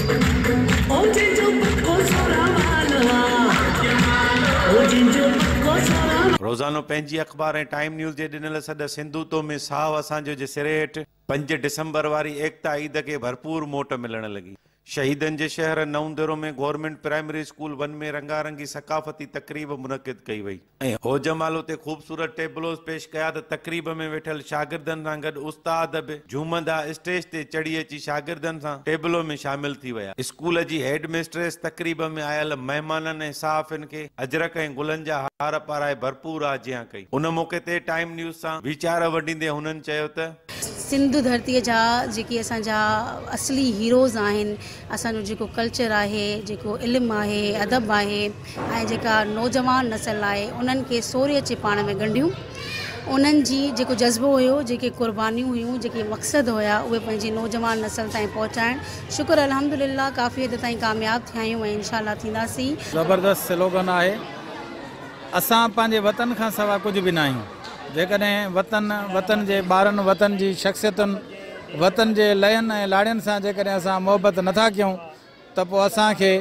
او جنهن جو پڪو سورهن والو آ او جنهن جو پڪو سورهن. روزانو پنهنجي اخبار ۽ ٽائيم نيوز جي ڏنل سڏ سنڌو تو ۾ ساهو اسان جو جي سري هيٺ پنج ڊسمبر واري ايڪتا عيد کي ڀرپور موٽ ملڻ لڳي. شهيدن جي شهر Naudero ۾ government primary school one ۾ رنگارنگي ثقافتي تقريب منعقد ڪئي وئي. ۽ هوجه مال اتي خوبصورت ٽيبلوز پيش ڪيا ته تقريب ۾ ويٺل شاگردن سان گڏ استاد به جهومندا اسٽيج تي چڙهي اچي شاگردن سان ٽيبلو ۾ شامل ٿي ويا. اسڪول جي هيڊ مسٽريس تقريب ۾ آيل مهمانن ۽ صحافين کي اجرڪ ۽ گلن جا هار پارائي ڀرپور آجيان ڪئي. ان موقعي تي ٽائيم نيوز سان ويچار ونڊيندي هنن چيو ته. سنڌ ڌرتيء جا جيڪي اسان جا اصلي هيروز آهن اسان جو جيڪو ڪلچر آهي جيڪو علم آهي ادب آهي ۽ جيڪا نوجوان نسل آهي انهن کي سوري اچي پاڻ ۾ ڳنڍيون انهن جي جيڪو جذبو هيو جيڪي قربانيون هيون جيڪي مقصد هيا اهي پنهنجي نوجوان نسل تائين پهچائڻ شڪر الحمدلله ڪافي حد تائين ڪامياب ٿيا آهيون ۽ انشاء الله ٿينداسين. زبردست سلوگن آهي اسان پنهنجي وطن کان سوا ڪجهه به ناهيون. جيڪڏهن وطن، وطن جي ٻارن، وطن جي شخصيتن، وطن جي لئين ۽ لاڙين سان جيڪڏهن اسان محبت نه ٿا ڪيون ته پوء اسان کي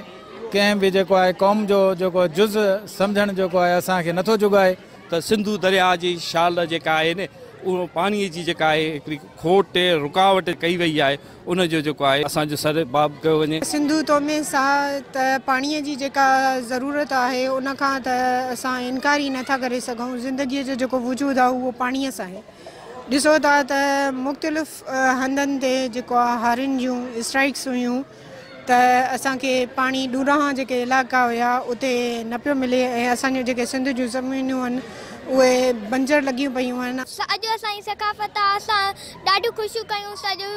ڪنهن به جيڪو آهي قوم جو جيڪو جز سمجهڻ جيڪو آهي اسان کي نه ٿو جڳائي. ته سنڌو درياهه جي شال جيڪا آهي نه اهو پاڻي جي جيڪا آهي هڪڙي کوٽ رڪاوٽ ڪئي وئي آهي ان جو جيڪو آهي اسان جو سر باب ڪيو وڃي. سنڌو تو ۾ ساهه ته پاڻيء جي جيڪا ضرورت آهي ان کان ته اسان انڪار ئي نه ٿا ڪري سگهون. زندگيء جو جيڪو وجود آهي اهو پاڻيء سان آهي. ڏسو ٿا ته مختلف هنڌن تي جيڪو آهي هارين جون اسٽرائيڪس هيون ته اسان کي پاڻي ڏورانهان جيڪي علائقا هيا اتي نه پيو ملي ۽ اسان جون جيڪي سنڌ جون زمينون هن اهي بنجر لڳيون پيون هن. اڄ اسان جي ثقافت آهي اسان. ڏاڍيون خوشيون ڪيون اسان جو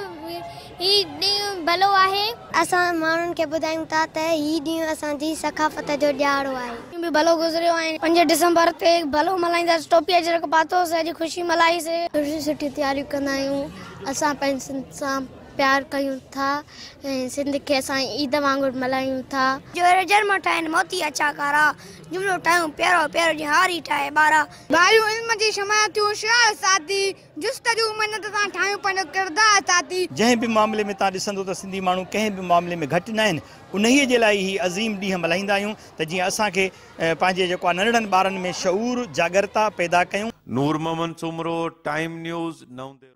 هي ڏينهن ڀلو آهي. اسان ماڻهن کي ٻڌايون ٿا ته هي ڏينهن اسان جي ثقافت جو ڏيهاڙو آهي. ڏينهن به ڀلو گذريو ۽ پنج ڊسمبر تي ڀلو ملهائينداسين ٽوپي اجرڪ پاتو سهجي خوشي ملهائي سي. سٺيون سٺيون تياريون ڪندا آهيون اسان پنهنجي سنڌ سان پيار ڪيون ٿا ۽ سنڌ کي اسان عيد وانگر ملهايون ٿا. جو هيرو جر مان ٺاهين موتي اڇا ڪارا جملو ٺاهيون پيارو پيارو جيئن هاري ٺاهي ٻارا. ٻاريون علم جي شمع ٿيون شعاع ساڌي. جست جون محنت سان ٺاهيون پنهنجو ڪردار ساٿي. جنهن به معاملي ۾ تان ڏسندو ته سنڌي ماڻهو ڪنهن به معاملي ۾ گهٽ ناهن انهيء جي لاء ئي هي عظيم ڏينهن ملهائيندا آهيون ته جيئن اسان کي پنهنجي جيڪو آهي ننڍڙن ٻارن ۾ شعور جاڳرتا پيدا ڪيون. نورمحمد سومرو، ٽائيم نيوز، نئون ديرو.